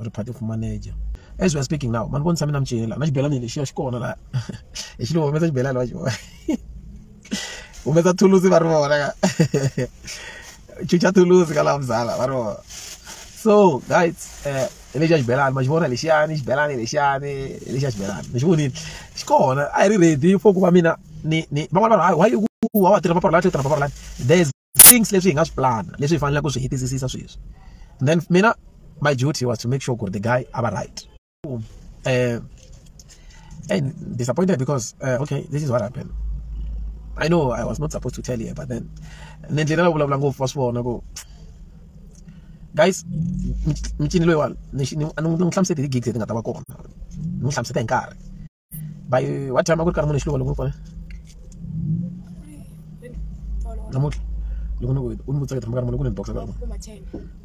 ri party of manager as we are speaking now mani vonisa mina micela na xibelani lexiya xi kona laha hi xi humesa xibelani va xi vona humesa thulusi va ri vona ka chucha thulusi ka laha muzala va ri vona so guys eh, hi lexiya xibelani ma xi vona lexiyani xibelani lexiyani hi lexiya xibelani mi xi vonile xi kona a hi ri ready for ku va mina ni ni van'wana vanhu hayi why u wa tirha maparolati u tirha maparolati there's things leswi hi nga swi plan leswi hi faneleke ku swi hetisisisa sweswi then mina my duty was to make sure ku the guy a va right um eh, and disappointed because uh, okay this is what happened I know I was not supposed to tell you but then nendlela la vulavula ngopfu wa swi vona ku guys micini loyiwani ni n'wi hlamusete hi ti-gigs leti nga ta va kona ni n'wi hlamuseta hi nkarhi bayo wa tshama ku ri karhi munhu xiluva loko pfala namuntlha loko ni u ni vutsaka tshama karhi munhu ku ni boxa karhi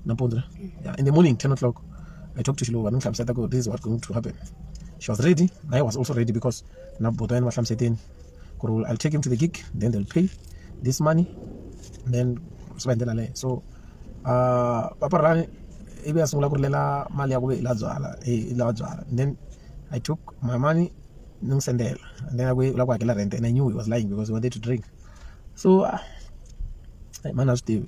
nampundzu yeah in the morning 10 o'clock i talked to xiluva ni hlamuseta ku this is what going to happen she was ready naye was also ready because na boto yena va hlamuseteni I'll take him to the gig, then they'll pay this money, then spend the money. So, uh, Papa Rani, ibe asungula ku rilela mali ya ku ve ila byala ila byala then i took my money ni n'wi sendela and then a ku la ku hakela rent and i knew he was lying because he wanted to drink so uh, mani a swi tivi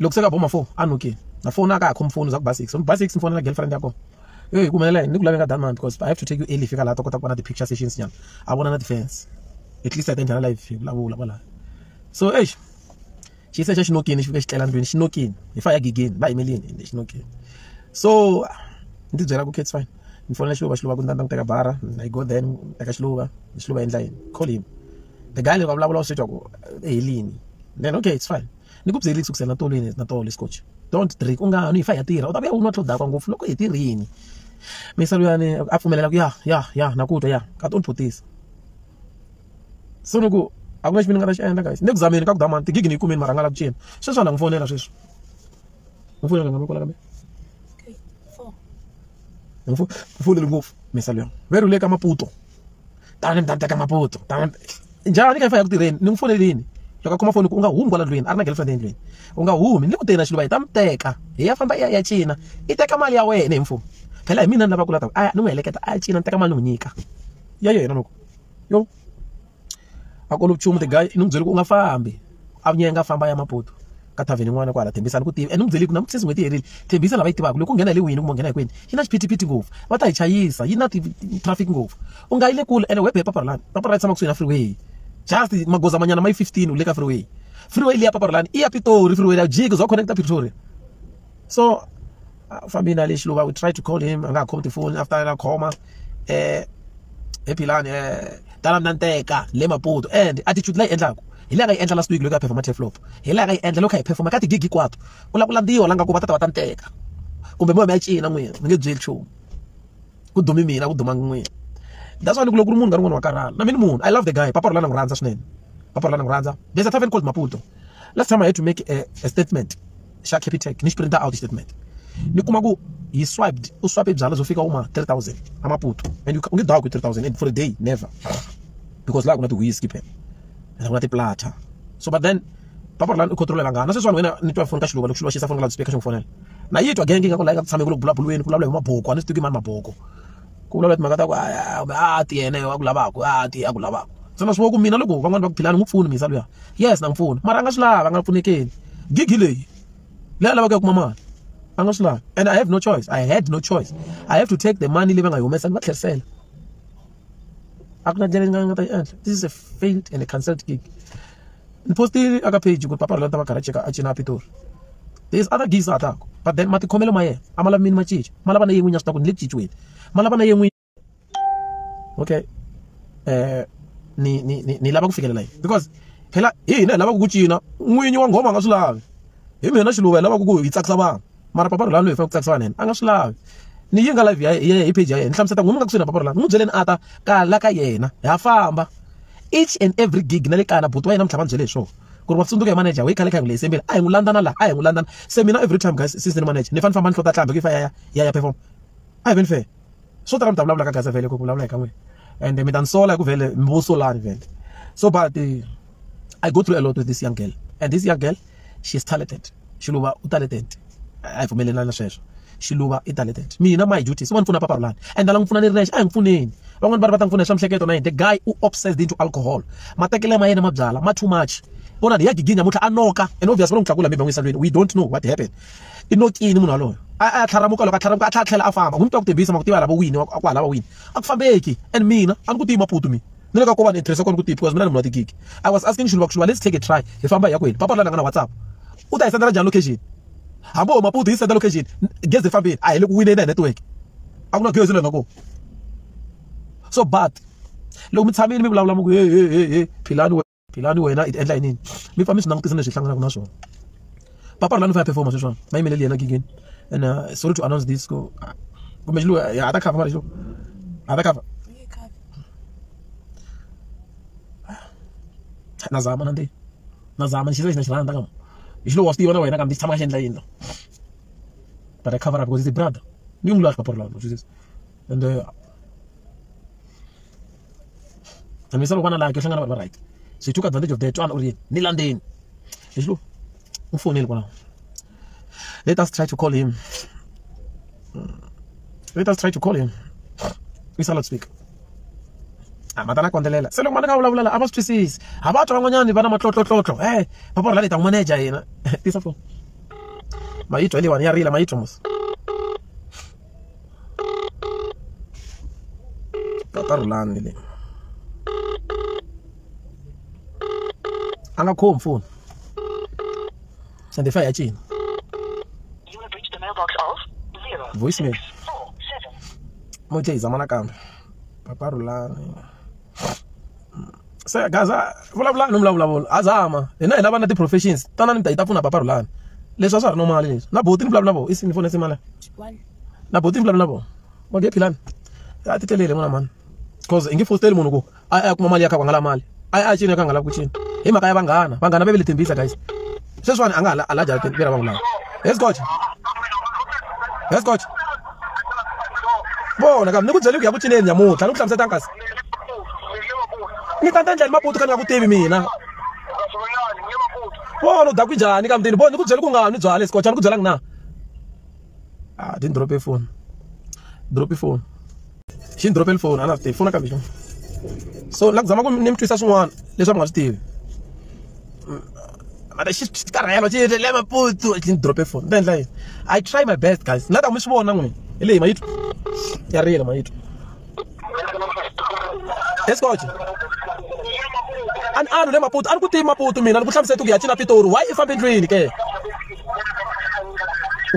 loko se ka boma four a nokeni na foni a ka ha khomi foni za ku ba six ni ba six ni fonela girlfriend ya kona eyi ku humelela yini ni ku laveka done man because i have to take you early fika laha ta kota ku vona ti-picture sessions nyana a vona na ti-fans at least a ta njhana live hi vulavula kwalaho so eish xi se xa xi nokini xi fika xi tlela ndlwini xi nokini hi fa ya gigini va yimelini ende xi nokini so ni tibyela ku kits fine ni fonela xiluva xiluva ku ni ta ni teka bara i go then teka xiluva xiluva endla yini call him the guy loko a vulavula u swi twa ku eh, helini then okay it's fine ni ku byerile kusukisela na tolweni na tolo scotch don't drink u nga nwi hi fa ya tirha u ta vuya u nwa tlhodaka ngopfu loko hi tirhini misa luyani a pfumelela ku ya ya ya na ku twa ya ka toni photisa so ni ku a ku na xi mi ni nga ta xi endla guys ni ku zameni ka ku damani tigigi ni yi kumeni marhangala ku cina sweswi a na n'wi fonela sweswi n'wi fonela nga mi kwala kambe ni fonele ngopfu misa luyani ve rhule ka maputo tani ni tata ka maputo tani njhani ka fa ya ku tirheni ni n'wi fonelini loko a khoma foni ku u nga humi kwala ndlwini a ri na girlfriend endlwini u nga humi ni ku teni na xiluva hi ta mi teka hi ya famba i ya ya cina i teka mali ya wena hi mfumo phela hi mina ni lava ku lata a ni n'wi heleketa a ya cina ni teka mali ni n'wi nyika ya yena loko yo a kolo vuchumu the guy ni n'wi byele ku u nga fambi a vunya nga famba ya mapoto ka thavheni n'wana kwala thembisa ni ku tiva and u byele ku na ku sesi n'hweti yi herile thembisa lava yi tivaka loko u nghena hi le wini kumbe u nghena hi kwini yi na xiphitiphiti ngopfu va ta hi chayisa yi na traffic ngopfu u nga yi le kule ene webe hi paparolani paparolani tshama kusuhi na freeway just magoza manyana ma yi fifteen u le ka freeway freeway leyi ya paparolani i ya pitori freeway ya jiki zwa connecta pretoria so a fambi na le xiluva we try to call him a nga ha khomi tifoni after a khoma um hi philani um tala mina nteka le maputo and attitude leyi endlaku hi laha nga yi endla last week loko a performa tleflop hi laha nga yi endla loko a hi performa ka tigigi hinkwato u lava ku landziwa la nga ku va ta ta va ta nteka kumbe moya mi ya cina n'wina mi nge byeli nchumu ku dumi mina ku duma n'wina that's why ni ku loko ku ri munhu ka rin'wana wa karhala na mina munhu i love the guy papa rolana n'wi rhandza swinene papa rolana n'wi rhandza there's a tavern called maputo last time i had to make a, a statement xa capitec ni xi print out xitatimende ni kuma ku yi swiped u swape byala byo fika uma 3000 amaputo and u nge dawa ku 3000 and for a day never because laha ku na ti-whisky phela and ku na tiplata so but then papa lani u controlela ngana sweswiwani wena ni twa foni ka xiluva loko xiluva xi sa foni ka loudspeaker xi n'wi fonela na yi twa genge ingaku layi nga ku tshameki loko bulabulweni ku vulavula hi maboko a ni swi tivi mani maboko ku vulavula timhaka ta ku kumbe a ti yena a ku lavaka a ti a ku lavaka se ma swi ku mina loko van'wana va ku philani n'wi pfuni misa luya yes na n'wi pfuna mara a nga swi lava a nga pfunekeni gigi leyi leyi a lavaka ya kuma mali a nga swi lava and i have no choice i had no choice i have to take the money leyi va nga yi humesa ni va tlherisela a ku na ndlela yi nga nga ta yi endla this is a failed and a cancelled gig ni postile aka page ku ri papa rolata va garage ka acina pitori there's other gigs a taku but then matikhomelo ma yena a ma lavi mini ma cinca ma lava na yen'wini ya swi ta ku ni le ku cinciweni ma lava na yen'wini okay um ni ni ni ni lava ku fikelela yini because phela hi hina hi lavaka ku cina n'winyi wa nghoma a nga swi lavi hi mina xiluva hi lavaka ku hi tsakisa vanhu mara papa rhulani loyi fa ku tsakisiwa nene a nga swi lavi ni yi nga live ya yena hi page ya yena ni hlamuseta ku n'wi nga kusuhi na papa rhulani n'wi byeleni a ta kala ka yena ha famba each and every gig na le kaya na buti wa yena mi tlhava ni byele hi swona ku ri wa tsundzuka hi manager hi khale kha hi n'wi leyi sembile a hi n'wi landzana laha a hi n'wi landzana se mina every time guys since ni manager ni fanele famba ni hlota tlambi ku yi fa ya ya ya ya perform a hi veni fair swo tala mi ta vulavula ka gaza vhele ku vulavula hi ka n'wina and mi ta ni sola hi ku vhele mi vo solani vhele so but eh, i go through a lot with this young girl and this young girl she is talented xiluva u talented a hi pfumelelani na sweswo xiluva i talented mina my duty swin'wana pfuna papa rulani and lava n'wi pfuna ni ri nexe a hi n'wi pfuneni van'wani va ri va ta n'wi pfuna hi swa mihleketo na yini the guy u obsessed into alcohol matekele ma yena ma byala ma too much vonani hi ya gigini namuntlha a noka and obvious va lo n'wi tlakula maybe van'wisa lweni we don't know what happened i nokini munhu waloyo a a tlharamuka loko a tlharamuka a tlhela a tlhela a famba ku ni twa ku tebisa ma ku tiva lava wini a ku halava wini a ku fambeki and mina a ni ku tiyi maputu mina ni le ka ko vanhu hi tirhisa kona ku tiyi because mina ni munhu wa tigigi i was asking xuluva ku xuluva let's take a try hi famba hi ya kwini papa la nga na whatsapp u ta hi sendela njhani location hambo maputu yi senda location gezi fambile a hi le ku wineni ya network a ku na gezi lena ko so but loko mi tshamile mi vulavula mi ku he he he he philani philani wena i ti endla yinini mi pfa mi swi langutisa leswi hi hlanganaka na swona papa rilani fa ya performa sweswona ma yimeleli yena gigeni and uh, sorry to announce this ku kumbe xiluwa ha ta cover mara xo ha ta cover na zama na ntiyi na zama ni xisa lexi na xi rhandza kama hi xilowa wa swi tiva na wena kambe xi tshama ka xi endla yini la but i cover up because it's a brother ni n'wi lavi papa rilani and uh, I mean, some one like you hangana right. So he took advantage of that one or ni landeni. Lexi lo u fonele kwalaho. Let us try to call him. Let us try to call him. We shall not speak. Ah, matana kondelela. Se loko mali ka vulavula la a va swi twisisi. Ha va twa van'wanyani va na matlotlotlotlo. Eh, papa ri la leta manager yena. Tisa phone. Mayitwa leyiwani ya rila mayitwa mos. tata rhulani le a nga khomi foni sandefa ya cina voicemail mo tse hi zama nakambe papa rhulani se gaza vulavulani no mulavulavula a zama hina hi lava na ti-professions tanani mi ta yi ta pfuna papa rhulani leswi a swa ha ri no mali leswi na boti ni vulavula na vona isini fone simala na boti ni vulavula na vona va nge philani a ti telele n'wana mani because i nge fosteli munhu ku a ya kuma mali ya kha ku nga la mali a ya a cini ya kha nga lavi ku cina hi mhaka ya vanghana vanghana va ve le thembisa guys sweswiwani a nga ha alaja lera vanhu lava yes coach yes coach vona ka ni ku byele ku ya ku cineni nyamuntlha ni ku hlamuseta nkasi ni ta ta endla ni maputu ka ni nga ku tivi mina vona u daku njhani ka mutini vona ni ku byele ku nga ni byale scotch a ni ku byelanga na a ah, ti ni drope phone drope phone xi ni drop-ele foni a na swi tivi foni nakambe so na ku zama ku ni mi twisa swin'wana leswi a mi nga swi tivi mara xi karhelo xi le maputsu xi ni drop-e foni ni ta endla yini i try my best guys na ta mi swi vona n'wini hi leyi mayitwa ya riyele mayitwa esikoje a ni a ni le maputo a ni ku tivi maputo mina ni ku hlamusela ku ya cina pitori why i fambe ndlwini ke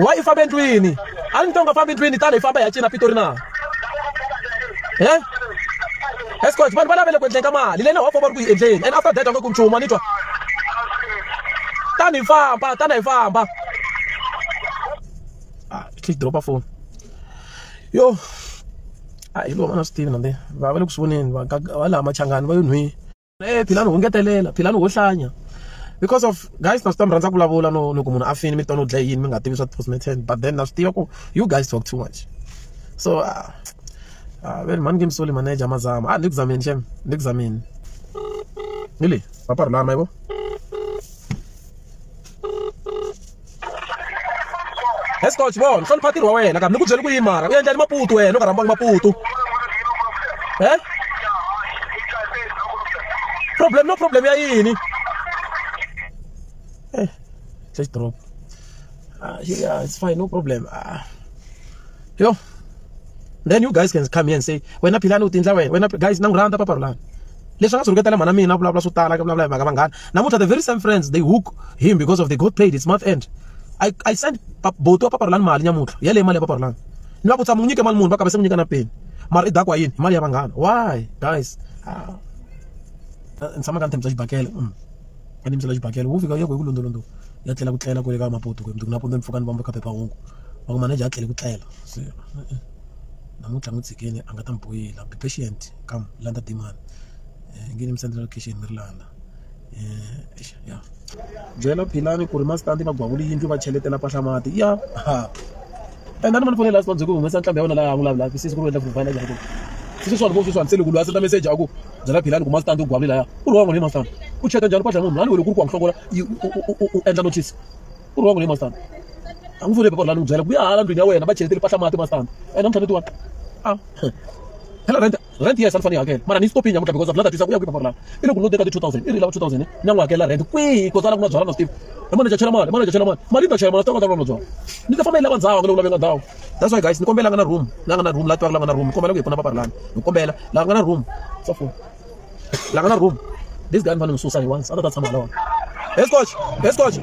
wa i fambe ndlwini a ni to nga fambi ndlwini tani hi famba hi ya cina pitori na e escot vanhu va lavele ku endleni ka mali leyi na wa famba ri ku yi endleni and after that va nge ku nchumu a ni twa tani hi famba tani hi famba ah, click dropa phone yo a hi lova na swi tivi na va va le ku swi voneni va va laha machangani va yo nhwini eh philani ho ngetelela philani ho hlanya because of guys na swi ta mi rhandza ku vulavula no loko munhu a fini mi tona u dlaye yini mi nga tivi swa ti-postmaten but then na swi tiva ku you guys talk too much so uh, ah, uh, ah, veri mhani ngimsoli manager mazama a ah, ni ku zameni xem ni ku zameni ni leyi va parhulana mayivo Let's go Chibon, hlonipha ntirho wa wena kambe ni ku byele ku yini mara u endla ni maputu wena u nga rhambangi maputu. Eh? Problem no problem ya yini? Eh. Just drop. Ah, yeah, it's fine, no problem. Ah. yo then you guys can come here and say wena philani u tindla wena wena guys na n'wi rhandza papa rulani leswi nga swi rhuketela mhana mina vulavula swo tala ka vulavula hi mhaka vanghana namuntlha the very same friends they hook him because of they got paid it's month end i i send boto wa papa rulani mali nyamuntlha yaleyo mali ya papa rulani ni va ku tshama n'wi nyike mali munhu va kamba se n'wi nyika na peni mara i dakwa yini mali ya vanghana why guys ah. ni tshama ka ni tshembisa xibakele mm. a ni misela xibakela wo fika yoko hi ku londolondo ya tlela ku tlela kwele ka mapoto kwe mundzuku napundu ni pfuka ni vamba ka phephahungu va ku manager a tlele ku tlela se namuntlha n'wi tshikeni a nga ta mi boyela be patient come landa demand um nge ni mi sendela location mi ri landa um ya byela philani ku ri mastandi va gwavula yindlu va cheletela pahla mati ya endani mani fonela sibabye ku humesa ntlhambi ya wena laha vulavulaka sisi ku ri wendla vuvana njhani ku sisi swani vo swiswani se loko loyi a senda meseji a ku byela philani ku mastandi u gwavile laya ku ri wan'we leyi mastandi u cheka njhani kwatla munhu lani wele ku ri ku wa n'hlokola u endla notice ku ri wan'we leyi mastandi a n'wi fonele papa lani n'wi byela ku ya hala ndlwini ya wena va cheletele pahla mati mastandi ene mtlhaneti wa a phela rent rent yes a ni fane yi hakela mara ni yi stopini nyamutlha because a bula ta twisa ku ya kwihi paparolani i loko no teka ti-two thousand i ri lava two thousand na n'wi hakela rent kwihi because a la ku na byala na steve i manager chela mali manager chela mali mali yi ta chela mali swi ta kota ku na byala ni ta famba yi lava ndhawu ka loko lave nga ndhawu that's why guys ni kombela nga na room la nga na room la tivaka la nga na room ni kombela ku hi pfuna paparolani ni kombela la nga na room sa foni la nga na room this guy ni fanele ni susa ni once a ta ta tshama lona hey scotch hey scotch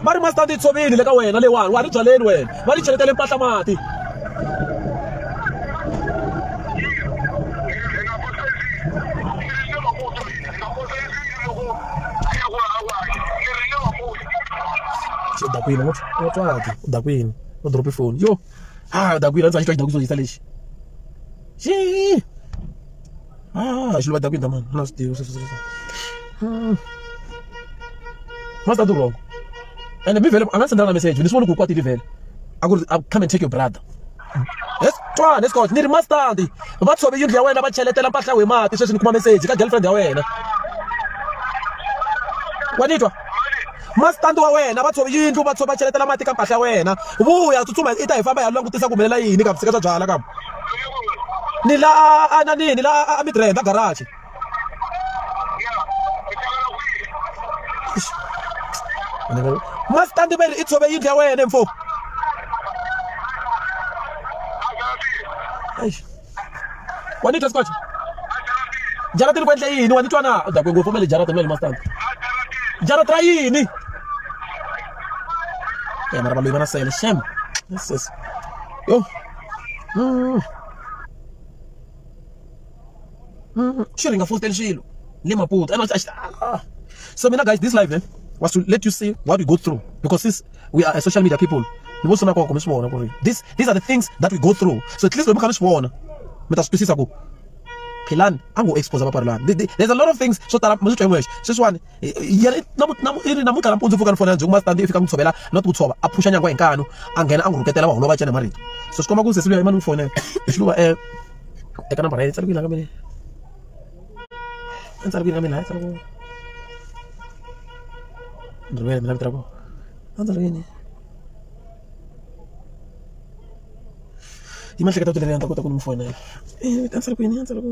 va ri master ti tshovile le ka wena leyiwani wa ri byaleni wena va ri cheletele mpahla mati dakwini u twaki u dakwini u dropi foni yo ha dakwini a ndzi sa xitwa xidakwi xo yisa lexi xii Ah, xilo va ta ku yini mani na swi tivi sweswo sweswo hmm. masta durhoko ende mi vhele a nga sendela na message ni swi voni ku kwatile vhele a ku ri come and take your brother yes twana escort ni ri mastandi va tshove yindlu ya wena va cheletela mpahla we mati sweswi ni kuma message ka girlfriend ya wena wa ni twa mastandi wa wena va tshove yindlu va tshova cheletela mati ka mpahla ya wena vuya tsutsuma i ta hi famba ya langutisa ku humelela yini ka vusika bya byala ka ni la a na nini la a mi tirhenda garage masitandi veri i tshove yindlu ya wena mfo wa ni twa sikwacha jaratini ku endla yini wa ni twa na dakwe ngopfu ma le jaratini ma le masitandi jarata ra yini ya mara valoyi va na sele xem yo xi ri nga fositeli swilo ni maputo and a xi ah. so mina guys this life eh, was to let you see what we go through because since we are social media people ni vo sona koko mi swi vona ku ri this these are the things that we go through so at least loko mi kha mi swi vona mi ta swi twisisa ku philani a ngo expose vaparilani there's a lot of things swo tala mi swi twa hi wexe sweswiwani yi ri i ri namuntlha nampundzu pfuka ni fonela ndzi kuma standi i fika n'wi tshovela no ti ku tshova a phuxa nyangwa hi nkanu a nghena a n'wi rhuketela va holova cana hi marito so swi komba ku sesi luya i mani n'wi fonela hi xiluva um eka nambara ya yi tsariwile ka mina i tsariwile ka mina ya tsariwile ni rivele mina vito ra kona a ndzi ri yini yi mahleketa u tilelela ni ta kota ku ni n'wi fonela i ta ndzi ri kwini a ndzi ri ku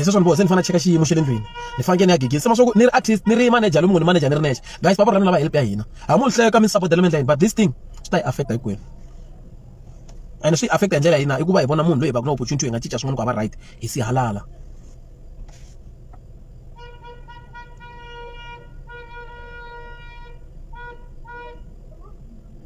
phese swa ni boha se ni fanele cheka xiyimo xa le ndlwini ni fanekele ni ya gigisa ma swaku ni ri artist ni ri manager lomu ngo ni manager ni ri nexe guys papa ra mina lava help ya hina ha mu ni hleka mi ni sapotela mi endla yini but this thing swi ta yi affecta hinkwenu and swi affecta hi ndlela yina i ku va hi vona munhu loyi hi va ku na opportunity hi nga cinca swin'wana ku hava right hi si halala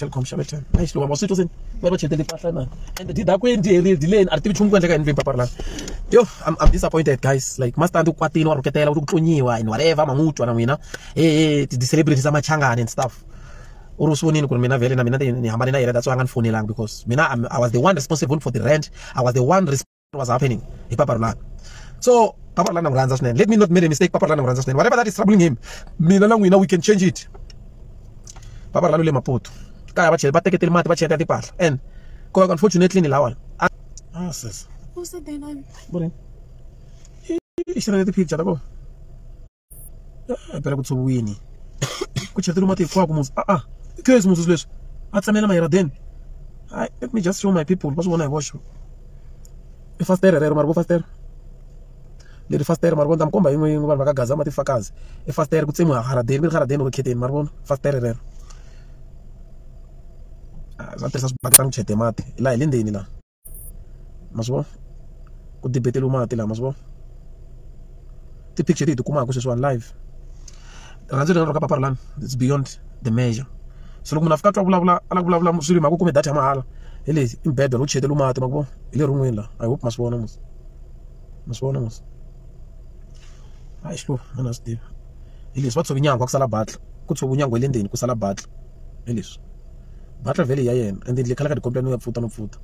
Telkom xave ten a yi xi lova ma swi twa se va va chetele mpahla na and did a ku endleli deleni a ri tivi nchumu ku endleka endleni papara lani yo I'm, I'm disappointed guys like mastandi u kwatile wa rhuketela u ri ku tlonyiwa and whatever ma n'wi twa na n'wina he he ti-celebrities ta machangani and stuff u ri u swi vonile ku ri mina vhele na mina ni hambane na yena that's why a nga ni fonelangi because mina I'm, I was the one responsible for the rent I was the one was happening hi papa rolani so papa rolani na n'wi rhandza swinene let me not make a mistake papa rolani na n'wi rhandza swinene whatever that is troubling him mina na n'wina we can change it papa rolani u le maputo kaya va chele va teketele mati va cheka timpahla and ko unfortunately ni lawani ah sis who's the day nine morning i xirhele ti-picture ta kona phela ku tshoviwini ku cheteriwa mati hinkwaku muzi a a i case muzi leswi a tsamela mayiradeni hayi let me just show my people va swi vona hi voxe i fastere rero mari vo fastere leri fastere mari vona ta mi komba yin'we yin'we vanhu va ka gaza mati fakazi i fastere ku tsemiwa haradeni mi ri haradeni ro kheteni mari vona fastere rero va tirhisa swibaketani ku chete mati laha hi le ndzeni laha ma swi vona ku debeteriwa mati lama ma swi vona ti-picture leti hi ti kumaka sweswiwani live rirhandzu leri nga ka papa lani it's beyond the measure se loko munhu a fika a twa vulavula a la ku vulavula swilo hi mhaka u kume data ya mahala hi lexi i mbedwa lowu cheteriwa mati ma ku vona hi le rin'wini laha i hope ma swi vona mos ma swi vona mos hayi xihluva a na swi tivi hi leswi va tshove nyangwa ku sala batla ku tshove nyangwa ya le ndzeni ku sala batla hi leswi. Butler vele hi ya yena and yindlu yi khala ka tikhomba no ya pfuta no pfuta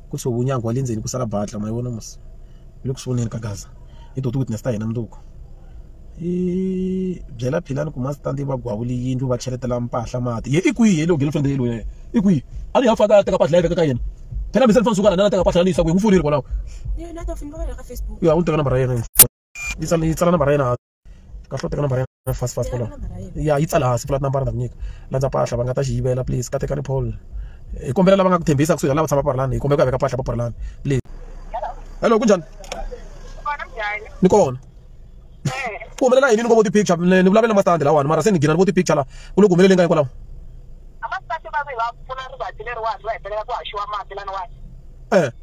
ku tshoviwa nyangwa wa le ndzeni ku sala butler ma yi vona mos yi le ku sunguleni ka gaza hi to ti witness ta hina mundzuku hi byela philani ku mastandi va gwavule yindlu va cheletela mpahla mati ye i kwihi ye lowu girlfriend ye loyi i kwihi a ni ya faka teka mpahla ya veka ka yena phela mi se ni fane suka lana na teka mpahla ni yisa kwihi n'wi fonile kwalaho ya u ni teka nambara ya yena yi tsala nambara ya yena ka hlo teka nambara ya fast fast kwalaho ya yi tsala hansi pfula tinambara ta ku nyika landza mpahla va nga ta xi yivela please ka tekani paul hi kombela lava nga ku tshembisa kusuhi lava tshama parlani hi kombela ku ya veka mpahla pa parlani please hello kunjhani ni kona ku humelela yini ni ngo vo ti-picture ni vulavela mastandi lawani mara se ni gina ni vo ti-picture laha ku le ku humelele nga hikwalaho e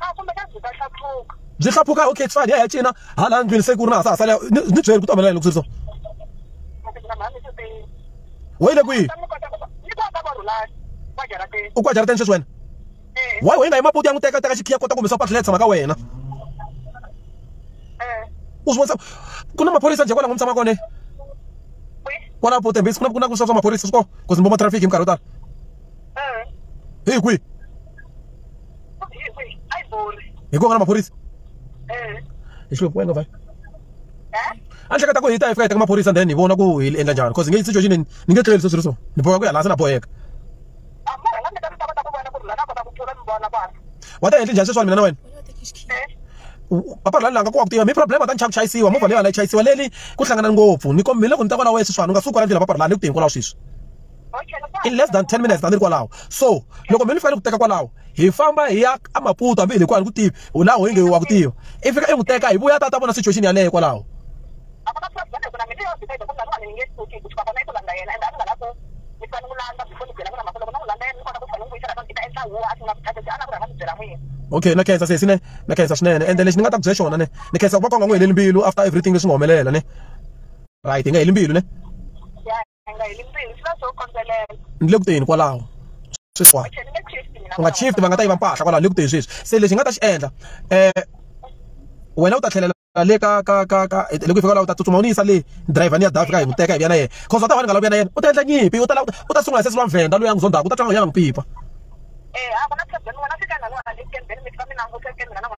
a kumbe ka byi ta hlaphuka byi hlaphuka okay it's fine ya ya cina hala ndlwini se ku ri na ha sa ha sala ni ni byeri ku ta humelela loko swi ri so na mhani swi tini we le kwihi ni kota ku va ni kota va rhulani va jarateni u kwa jarateni sweswi wena eh why wena hi maputi ya n'wi teka teka xikhiya kota ku humesa patla leyi tshama ka wena eh u swi vonisa ku na maphorisa njhe kwala n'wi tshama kone kwi kwala pote mbisi ku na ku na ku swa swa maphorisa swi kona ku zimbo ma traffic hi minkarhi yo tala eh hi kwihi hi ku nga na maphorisa hi xilungu wena vhaya a ni hleketa ku hi ta hi fika hi teka maphorisa then hi vona ku hi endla njhani because nge situation ni ni nge tleli sweswi ri so ni boheka ku ya laha se na boheka wa ta endli njhani sweswani mina na wena papa la langa ku wa ku tiva mi problem ta nchaku chayisiwa movha leyi va la yi chayisiwa leli ku hlangana ngopfu ni kombile ku ni ta kwala wena sweswiwani u nga suki kwala ndlela papa la ni ku tihi kwalaho sweswi in less than 10 minutes tani ri kwalaho so loko mi ni fanele ku teka kwalaho hi famba hi ya a maputo hambi hi le ku a ni ku tivi u laha hoyinge wa ku tiva i fika i n'wi teka hi vuya ta ta vona situation yaleyo kwalaho okay na khensa sesi ne na khensa swinene ende lexi ni nga ta ku byela xona ne ni khensa ku va konga n'wi heleli mbilu after everything leswi nga humelela ne right hi nga heli mbilu ne a nga heli mbilu swi va swo kondzelela ni le ku teni kwalaho sweswiwani u nga chiefti va nga ta yiva mpahla kwalaho ni le ku teni sweswi se lexi hi nga ta xi endla um wena u ta tlhelela le ka ka ka ka loko hi fika la u ta tsutsuma u ni yisa le driver ni ya davi ka hi n'wi teka hi vuya na yena cause u ta wani nga la vuya na yena u ta endla nyimpi u ta u ta sungula hi sesi wa mvhenda loyi a n'wi zondzaka u ta twa nga ya nga n'wi pipa eh a ku na problem wena fika na lona le kembeni mi fika mi languteke mina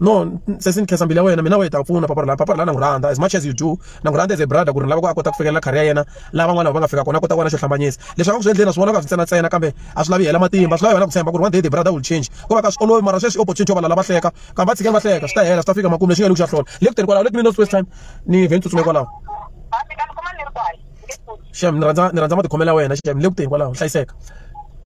no sesi ni khensa mbilu ya wena mina wehe ta pfuna papa la papa la na n'wi rhandza as much as you do na n'wi rhandza as a brother ku ri lava ku a kota ku fikelela career ya yena lava n'wana va nga fika kona a kota ku va na xo hlambanyisa leswi a va ku swi endleni a swi vona ka swi ntsena ntsena kambe a swi lavi hela matimba swi lavi wena ku tshemba ku ri one day the brother will change ko va ka swi olovi mara sweswi opportunity yo va lava hleka kambe va tshikeni va hleka swi ta hela swi ta fika makumu lexi nga lexi xa hlola le ku teni kwalaho let me know first time ni vhe ni tsutsuma kwalaho xem ni rhandza ni rhandza matikhomelo ya wena xem le ku teni kwalaho hlayiseka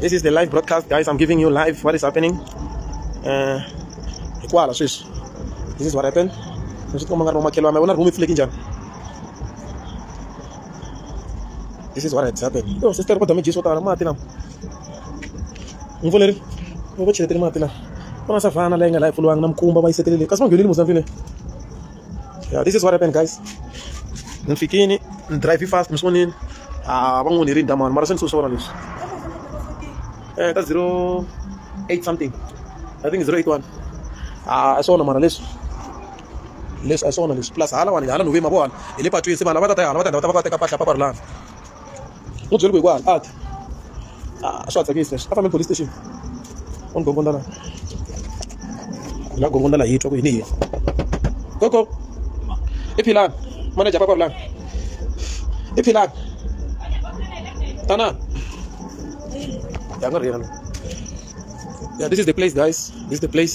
this is the live broadcast guys i'm giving you live what is happening uh, hikwala sweswi this is what happened leswi tikoma nga ri vamakhelwana vona rhumi pfuleki njhani this is what has happened yo oh, sister kodwa mi dyi swo tala mati lama ni voleri ni vo cheletele mati lama ku na savhana leyi nga laha yi pfuliwanga na mikumba va yi setelele kasi va nghenile mozambique yeah, this is what happened guys ni fikini ni drive fast mi swi vonini a ah, va n'wi ni rinda mani mara se ni swi swi vona leswi eh ta 08 something i think 081 a ah, swona mara leswi leswi a swona leswi plus hala wani hala nuvima vona hi le patwini se vanhu va ta ta hala va ta va ta va teka pahla paparilana u byele ku hi ku a ti a swa tsakisa leswi a fambe police station u ni gongonda la hi nga gongonda la hi twa ku yini hi koko i philani manager papa vulani i philani tanani ya nga ri yena yeah this is the place guys this is the place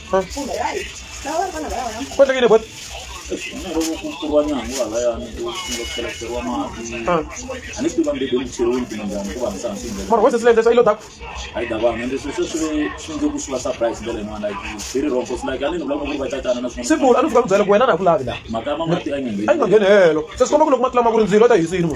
kotekile bot mara wese silende sa ilo dako simula a ni fika ku byela ku wena na ku lavi la a yi nga ngheni helo se swi komba ku loko ma tlama ku ri ndzilo ta hisini mo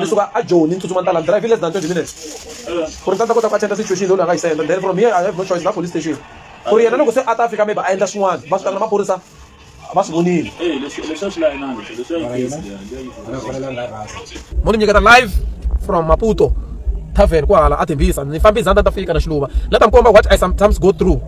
ni suka a joni ni tsutsuma ni ta la drive less than 20 minutes ku ri ni ta kota ku attenda situation leyi loyi a nga yi senda then from here i have no choice na police station ku ri yena loko se a ta fika maybe a endla swin'wana va swi na maphorisa va swi vonile mo ni nyiketa live from maputo tavern ku hala a tembisa ni fambe izandza ni ta fika na xiluva la ta mi komba what i sometimes go through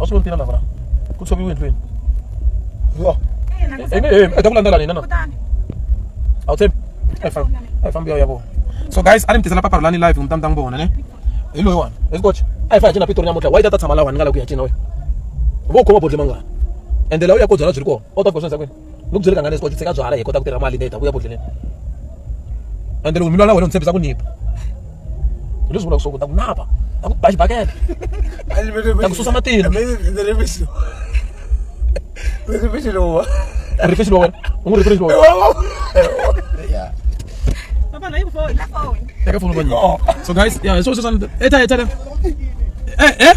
a swi vontina lavra ku tshoviwe endlweni yo i ta ku landzela nina na a wu tshembi a yi fambi ya ya vona so guys a ni mi tisela paparulani live hi mutamutanga vona ne hi loyi wani hi sikocha a yi fa hi cina pitori namuntlha wa yi ta ta tshama lawa ni nga la ku ya cina wena vo u khoma bodle mangani ende laha u ya ko byala byi ri kona u ta fika swi endza kwini ni ku byele kangani leswi tshika byala hi kota ku tirha mali leyi ta ku ya bodleleni ende loko mi lwa na wena ni tshembisa ku nipa hi leswi vulaka swo ku ta ku napa ta ku ba xibakela ta ku susa matilo rifexi lowa rifexi lowa u n'wi rifexi lowa Teka phone kwani. So guys, yeah, so so so. Eta eta. Eh eh.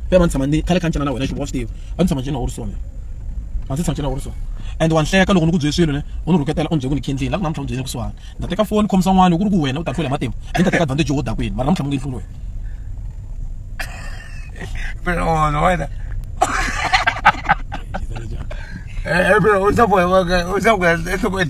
ve va ni tshama ni khale kha ni tlanga na wena xiboho xitive va ni tshama njheni na orison va ndzi tshama njheni na orison and wa ni hleka loko ni ku byele swilo ne u ni rhuketela u ni byele ku ni khendlini la ku namuntlha u ni byele kusuhana ni ta teka foni khomisa n'wana ku ri ku wena u ta hlula hi matimba a ni ta teka advantage yo wo dakwini mara namuntlha mu nge hluli wena Pero no, bueno. Eh, eh, pero usa pues, usa pues, eso pues.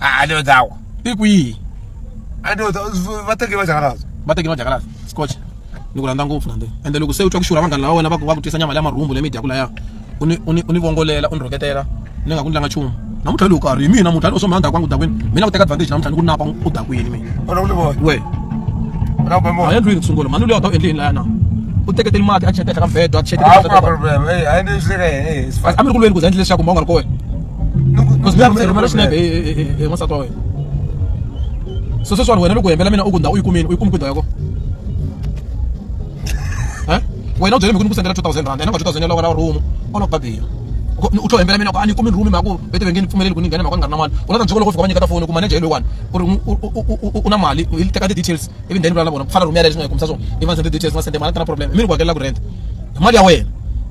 Ah, ale o dzawa i ku yihi ale o dzawa va teke va jakalaza va teke va jakalaza scotch ni ku rhandza ngopfu nande ende loko se u twa ku xurha vanghana lava wena va ku va ku twisa nyama leya marhumbu leyi mi dyaku laya u ni u ni u ni vongolela u ni rhoketela ni nga ku ndlanga nchumu namuntlha lowu karhi hi mina muntlha lowu swo mhanda kwangu dakwini mina ku teka advantage namuntlha ni ku napa u dakwini mina we a endlwini ku sungula mhani loyi a ta u endleni laya na u teketeli mati a cheta ehenhla ka mbedo a cheta a mi ri ku lweni ku za endle leswaku ma u nga ri ko wena rhumela xinepe hi n'wansati wa wena so sweswiwani wena loko hembela mina u ku ndhawu u yi kumini u yi kumi ku ndhawu ya kona wena u byele mi ku ni ku sendela two thousand rand yena nga two thousand ya loko na room u loko babira u tlho hembela mina ku a ni kumi room mhaka ku vete vengeni pfumeleli ku ni nghena mhaka ni nga ri na mali u la ta ni loko fika va nyiketa foni ku manager hi loyiwani ku ri u na mali hi teka ti-details ivi ndheni vula na vona ku fana room yaleyo leswi nga yi kumisa swona ivi va sende details nga sende mali a ta na problem i mi ni ku hakelela ku rent hi mali ya wena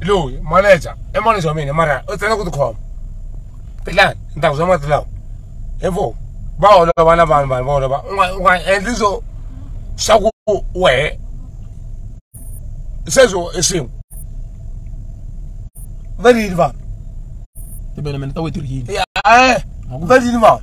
loyi manager i manager wa mina mara u tsena ku tikhoma tilani ni ta ku swa mati lawa hi vo va olova na vanhu vanhu va olova u nga u nga endli swo swa ku wehe sweswo i swin'we va rili vanhu tibelemende ta wetirhini va rili vanhu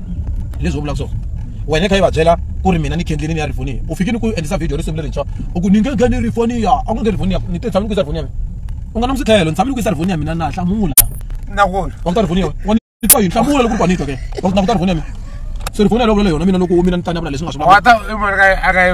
hi leswi u vulaka swona wena kha yi va byela ku ri mina ni khendlini ni ya rifoniya u fike ni ku endlisa video risimu lerintshwa u ku ni nge ngheni rifoniya a ku nge rifoniya ni te tshami ni ku yisa rifoniya mina u nga na msikhelo ni tshami ni ku yisa rifoniya mina na hlamula na wona wa ku ta rifoniya wa ni twa yi hlamula loko u panito ke wa ku na ku ta rifoniya mina se rifoniya loko le yona mina loko mina ni tanya vula leswi nga swi vula wa ta i mara ka a ka yi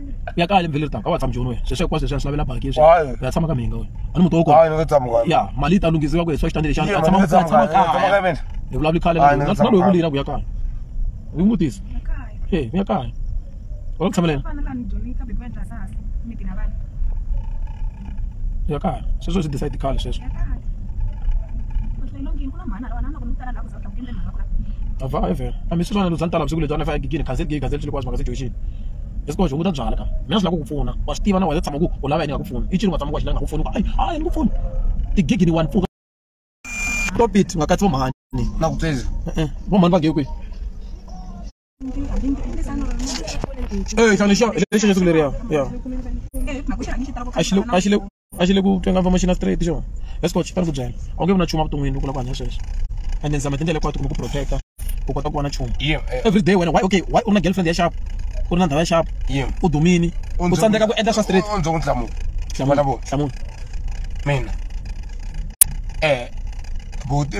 ya kale mvhele ri taka a wa tshama joni wena sweswo hinkwaswo leswi a swi lavela baki leswi Hayi. u ya tshama ka mhinga wena a ni muti wo kona Hayi, ni nga tshami ka yona. ya mali yi ta lunghisiwa ku hi swa xitandele xana Yena, a tshama ni nga a tshama tshami ka yona. Tshama ka kaya mina. hi vulavuli khale Hayi, ni nga na tshama loyi ka vulira ku ya kaya hi n'wi vutisa e ku ya kaya wa ku tshamelela ya kaya sweswo swi decide khale sweswo Avhayivhe a mi swi vona luzani tala vusiku lebyi a ni fa egigini cancel gig cancel xilokwazi mhaka situation leswi koho hunguta byala ka mina swi lava ku ku pfuna wa swi tiva na wena tshama ku u lava yini nga ku pfuna i ncini wa tshama ku wa xi lava nga ku pfuni ku hayi hayi ni ku pfuni tigigi ni one pfuka stop it nga katsi vo mhani na ku tsezi vo mhani va nge kwihi Eh, xana xa lexi nga sukile ya ya a xi le a xi le a xi le ku twenga va machina straight xo let's go xipara ku byela a wu nge vi na nchumu evuton'wini loko u lava ku hanya sweswo and then zama tindlela hinkwato kumbe ku protecta u kota ku vona nchumu every day wena why okay why u ri na girlfriend ya xapu u ri na ndhawu ya xapu u dumini u tsandzeka ku endla swa straight u ndzi ku nhlamulo hlamula hlamula mina eh buti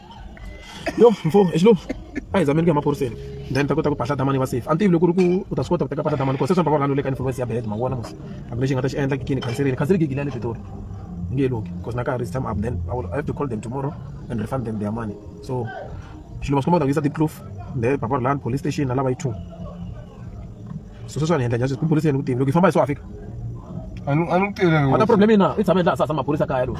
yo mfo hi xilungu a hi zameni ku ya maphoriseni then ta kota ku bahla damani va safe a ni tivi loko ri ku u ta swi kota ku teka bahla damani ku se swi va rhanu le ka influence ya bed ma vona mos a lexi nga ta xi endla kikini khanserini khanseri gigi leya le pitori hi nge loki because na karhi is time up then I, will, I have to call them tomorrow and refund them their money so xilo va swi komba ku ta ku yisa deep then papa ri lani police station na lava yi two so sweswi a ni endla njhani sweswi ku poliseni ku tivi loko yi famba hi swo afika a ni tivile a ta problem yina i tshame laha sasa maphorisa kaya lowu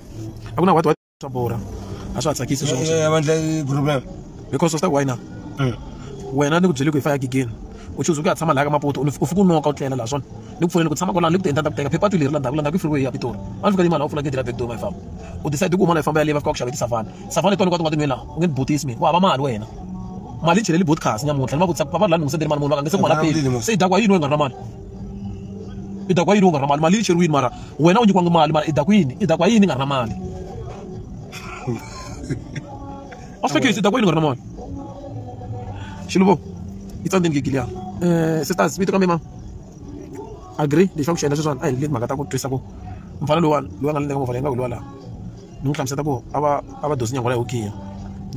a ku na white white swa borha a swi ha tsakisi swo eh, vandla problem because swi ta ku why na mm. wena ni ku byele ku hi fa ya gigeni u chuze ku ya tshama laha ka mapoto u fika u noka u tlela laha swona ni ku pfuneni ku tshama kwalano ni ku tiendla ta ku teka phepha ti leri la ndhaku la ndhaku i freeway ya pitori a ni fika yimana u pfula gedi la backdoor ma yi famba u decide ku huma la yi famba yaleyi va fika ku xaveti savana savana tona kwati nga tinweni laha u nge ni butisi mina u hava mali wena mali yi cheleli botcas nyamuntlha ni va vutisa va va ri la ni lungisete ri mali munhu va ka nge se ku mala peli se yi dakwa yini we nga ri na mali i ta ku yini u nga ri na mali mali yi cheriwini mara wena u nyikiwangi mali mara i ta ku yini i ta ku yini i nga ri na mali a swi hlekisi i ta ku yini u nga ri na mali xiluvo yi tsandzeni gigili ya um sisters vito ka mina agree lexi va ku xi endla sweswiwani a hi leti mhaka ta ku twisa ku mufana loyiwani loyi a nga ni le ka movha leyi nga ku hi lowa laha ni n'wi hlamusela ku a va a va dosi nyangwa ya hokini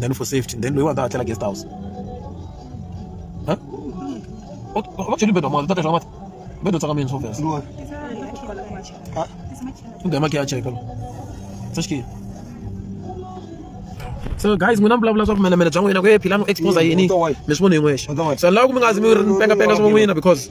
then for safety then loyiwani ta hatlela guest house va cheli bedo mali ta teka mati bedo tsaka mina sofes nda maki ya cheka se xikile so guys n'wina mi vulavula swa vumenemene bya n'wina ku ye philani u expose yini mi swi vona hi n'wexe so ni lava ku mi nga zi mi ri ni pengapenga swa n'wina because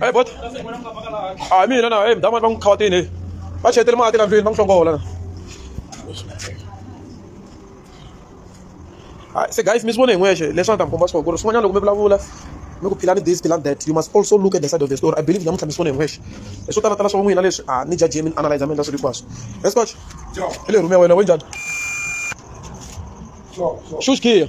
Hey bot. Ah mina na hey mdama bang khawatini hey. Ba chetele mati la ndlwini bang hlongola. Hi, se guys mi swi vone hi n'wexe leswi a ni ta mi komba swona ku ri swin'wanyana loko mi vulavula mi ku phila ni this phila ni that you must also look at the side of the story i believe namuntlha mi swi vone hi n'wexe hi swo talatala swa n'wina leswi a ni jajie mi ni analyze mi endla swilo hinkwaswo escotch hi le rhume ya wena we njhani shush kiya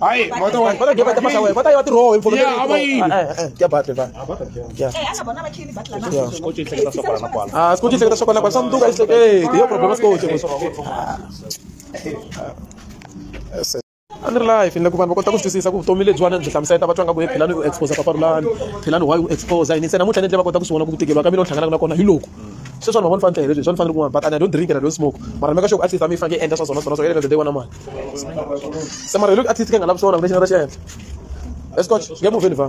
Hayi, mota wa. Bota geba tama sawe. Bota yati roho info. Yeah, ama yi. Kya bat le ba. Kya. Eh, ana bona ba khini bat la na. Skochi ihleketa sokwana na kwala. Ah, skochi ihleketa sokwana kwala. Sanduka ihleke. Eh, yo problem skochi. a ni ri laha hi fanele ku vanhu va kota ku swi twisisa ku vutomi lebyiwani byi hlamusela va twa nga ku phela ni u exposa paparulani phela ni why u exposa yini se namuntlha ni endle va kota ku swi vona ku tikeriwa ka mina u hlanganaka na kona hi loko sweswani mavona fanele hi leswi swi fanele ku n'wana but and i don't drink and i don't smoke mara mi ka xo ku a tlisa mi fanele endla swa swona swona swa yena the day wa na mali se mara hi loko artist ke nga lavi swona lexi nga ta xi endla escotch nge muvheni va